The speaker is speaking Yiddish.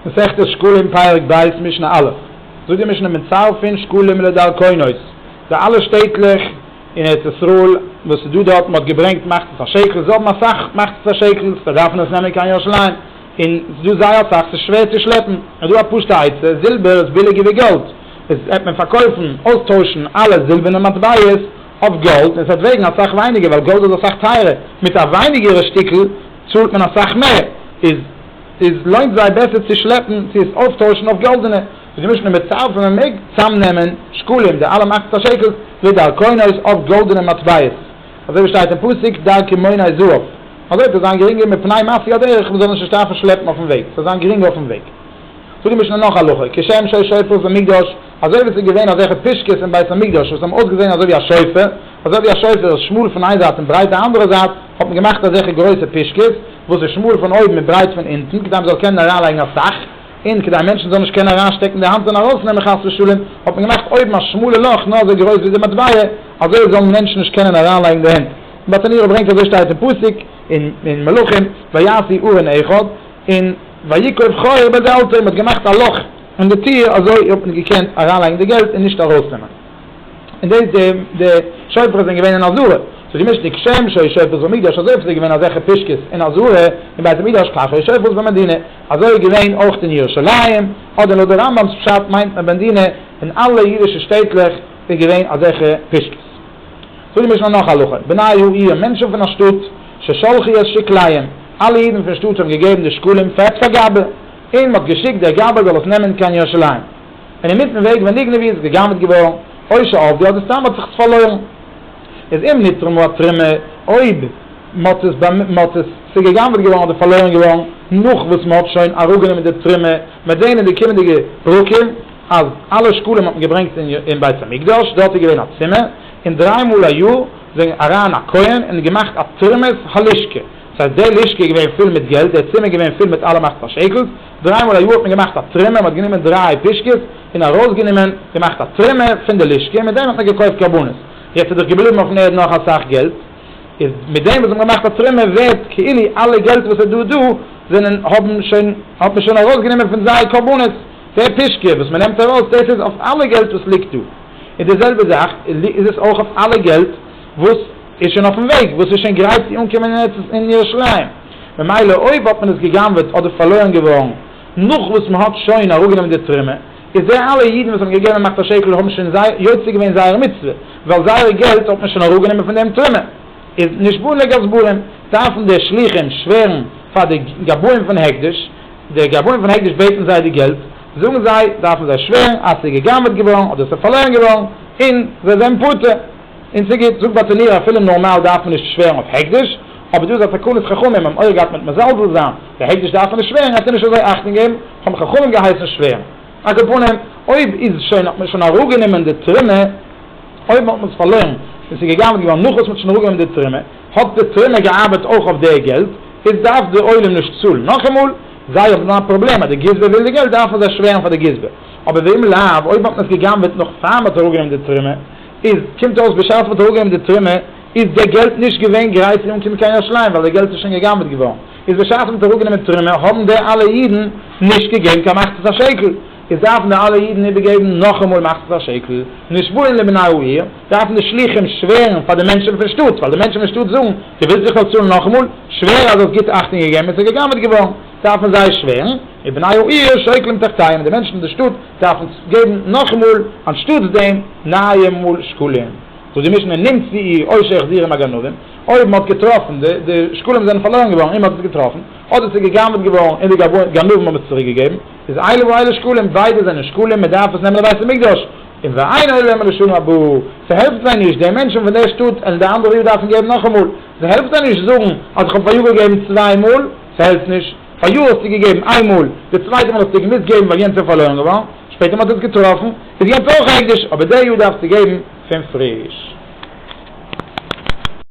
מסכת שקלים פרק ב' משנה א', זאגט די משנה מצרפין שקלים לדרכונות, די אלע שטעטלעך אין ארץ ישראל וואס איז דא דארט, מען האט געברענגט מחצית השקל, זיי האבן אסאך מחצית השקל, זיי דארפן עס נעמען קיין ירושלים, און עס איז דא זייער אסאך, עס איז שווער צו שלעפן, איז דא א פשוטע עצה, זילבער איז ביליגער ווי גאלד, עס העט מען פארקויפן, אויסטוישן אלע זילבערנע מטבעות אויף גאלד, און עס העט וועגן אסאך ווייניגער, ווייל גאלד איז אסאך טייערער, מיט א ווייניגערע שטיקל צאלט מען אסאך מער, איז. איז לוינט זיי בעסער צו שלעפן צו עס אויפטוישן אויף גאלדענע ווי געמישט מיט מעטאל פון מען מעג צאמנעמען שקלים די אלע מאכט פאר שעקלס ווי דרכונות אויף גאלדענע מטבעות אזוי ווי שטייט אין פסוק דרכי מונה זהב אזוי וועט עס זיין גרינגער מפני מעשי הדרך מען זאל נישט נישט דארפן שלעפן אויפן וועג סזאל זיין גרינג אויפן וועג זאגט די משנה נאך הלכה כשם שהיה שופר במקדש אזוי ווי עס איז געווען אזעלכע פישקעס אין בית המקדש וואס האבן אויסגעזען אזוי ווי א שופר אזוי ווי א שופר איז שמאל פון איין זייט און ברייט די אנדערע זייט האט מען געמאכט אזעלכע גרויסע פישקעס וואס איז שמאל פון אויבן און ברייט פון אונטן כדי מ'זאל קענען אריינלייגן אסאך, און כדי מענטשן זאלן נישט קענען אריינשטעקן די האנט און ארויסנעמען חס ושלום, האט מען געמאכט אויבן א שמאלע לאך נאר אזוי גרויס ווי די מטבע, אזוי זאלן מענטשן נישט קענען אריינלייגן די הענט. נתניהו ברענגט אזוי שטייט אין פסוק אין מלכים, ויעשי ארון אחד, און ויקוב חור בדלתו, מ'האט געמאכט א לאך אין די טיר אזוי האט מען געקענט אריינלייגן די געלט און נישט ארויסנעמען. און דאס די די שופרות זענען געווען אין אזורי, ס'איז געמישט ניק שם שוי שופרות במקדש אזוי ווי ס'איז געווען אזעלכע פישקעס אין אזורי אין בית המקדש כך הוי שופרות במדינה אזוי איז געווען אויך אין ירושלים אדער לויט די רמבם'ס פשט מיינט מען במדינה אין אלע אידישע שטעטלעך איז געווען אזעלכע פישקעס. זאגט די משנה נאך א הלכה בני העיר מענטשן פון א שטאט ששלחו את שקליהם אלע אידן פון שטאט האבן געגעבן די שקלים פעט פאר גבאי און מ'האט געשיקט דער גבאי זאל עס נעמען קיין ירושלים. און אינמיטן וועג ווען די גניבה איז גע'גנב'ט געווארן, אוי שאוב די, אדער סתם האט זיך עס פארלוירן, איז אם נתרמה או תרמה, אויב מ'האט עס, מ'האט עס, ס'איז גע'גנב'ט געווארן אדער פארלוירן געווארן, נאך וואס מ'האט שוין אראפגענומען די תרומה, מ'וועט זען אין די קומענדיגע פרקים אז אלע שקלים האט מען געברענגט אין בית המקדש, דארט איז געווען א צימער, און דריי מאל א יאר איז ווען אריין א כהן און געמאכט א תרמות הלשכה, דאס הייסט די לשכה איז געווען פול מיט געלט, די צימער איז געווען פול מיט אלע מחצה שקל'ס, דריי מאל א יאר האט מען געמאכט א טרימער, מען האט גענומען דריי פישקעס און ארויסגענומען, געמאכט א טרימער פון די לשכה און מיט דעם האט מען געקויפט קרבנות. יעצט איז דאך געבליבן אויפן ערד נאך אסאך געלט, איז מיט דעם וואס זיי האבן געמאכט א טרימער ווערט כאילו אלע געלט וואס איז דא דא זענען האבן שוין האט מען שוין ארויסגענומען פון זייער קרבנות, דער פישקע וואס מען נעמט ארויס דאס איז אויף אלע געלט וואס ליגט דא, און די זעלבע זאך איז עס אויך אויף אלע געלט וואס איז שוין אויפן וועג, וואס איז שוין גרייט צו אנקומען אין ארץ אין ירושלים. ממילא אויב האט מען עס גע'גנב'עט אדער פארלוירן געווארן נאך וואס מען האט שוין אראפגענומען די תרומה, איז די אלע אידן וואס האבן געגעבן מאכט א שקל האבן שוין יוצא געווען זייער מצוה, ווייל זייער געלט האט מען שוין אראפגענומען פון דעם תרומה, איז נשבעו לגזברים, דארפן די שלוחים שווערן פאר די גבאים פון הקדש, די גבאים פון הקדש בעטן זיי די געלט, זאגן זיי, דארפן זיי שווערן אז ס'איז גע'גנב'עט געווארן אדער ס'איז פארלוירן געווארן, און זיי זענען פטור. און ס'גוט, זאגט ביי טעניר אפילו נארמאל דארף מען נישט שווערן אויף הקדש, אבער דא איז א תקנת חכמים, האבן אויך געהאט מיט מזלזל זיין, די הקדש דארף מען נישט שווערן, העט ער נישט אזוי אכטונג געבן, האבן חכמים געהייסן שווערן. א קאפנים, אויב איז שוין האט מען שוין אראפגענומען די תרומה, אויב האט מען עס פארלוירן און ס'איז געגנב'ט געווארן נאך וואס מ'האט שוין אראפגענומען די תרומה, האט די תרומה געארבעט אויך אויף די געלט, איז דארף די עולם נישט צאלן. נאכאמאל, זיי האבן א פראבלעם אז די גזבר וויל די געלט דארפן זיי שווערן פאר די גזבר, אבער ואם לאו, אויב האט מען עס געגנב'ט נאך פאר מ'האט אראפגענומען די תרומה, איז, קומט אויס בשעת מען האט אראפגעהויבן די טרימער איז די געלט נישט געווען גרייט צו אנקומען קיין ירושלים ווייל די געלט איז שוין גע'גנב'ט געווארן, איז בשעת מען האט אראפגענומען די טרימער האבן די אלע אידן נישט געגעבן קיין מחצית השקל, איז דארפן די אלע אידן איבערגעבן נאכאמאל מחצית השקל, נשבעין לבני העיר, דארפן די שלוחים שווערן פאר די מענטשן פון שטאט, ווייל די מענטשן פון שטאט זאגן, דו ווילסט זיך נאך צאלן נאכאמאל, שווער אז דו האסט גוט אכטונג געגעבן און ס'איז גע'גנב'ט געווארן, דארפן זיי שווערן, ובני העיר שוקלים תחתיהם, די מענטשן פון די שטאט, דארף מען געבן נאכאמאל אנשטאטס דעם נייע מול שקלים, זאגט די משנה נמצא אי אויש החזירים הגנובים, אויב מען האט געטראפן די די שקלים זענען פארלוירן געווארן און מען האט עס געטראפן, אדער עס איז גע'גנב'ט געווארן און די גנבים האבן עס צוריק געגעבן, איז אלה ואלה שקלים, ביידע זענען שקלים, מען דארף עס נעמען לבית המקדש, און ואין עולה להם לשנה הבאה, ס'העלפט זיי נישט, די מענטשן פון דער שטאט און די אנדערע יאר דארפן געבן נאכאמאל, ס'העלפט זיי נישט זאגן אז איך האב פאריאר געגעבן צוויי מאל. ס'העלפט נישט. פאריאר האסטו געגעבן איין מאל, די צווייטע מאל האסטו געמוזט געבן ווייל יענץ איז פארלוירן געווארן, שפעטער מ'האט עס געטראפן, איז יענץ אויך עקדיש, אבער די יאר דארפסטו געבן פון פריש.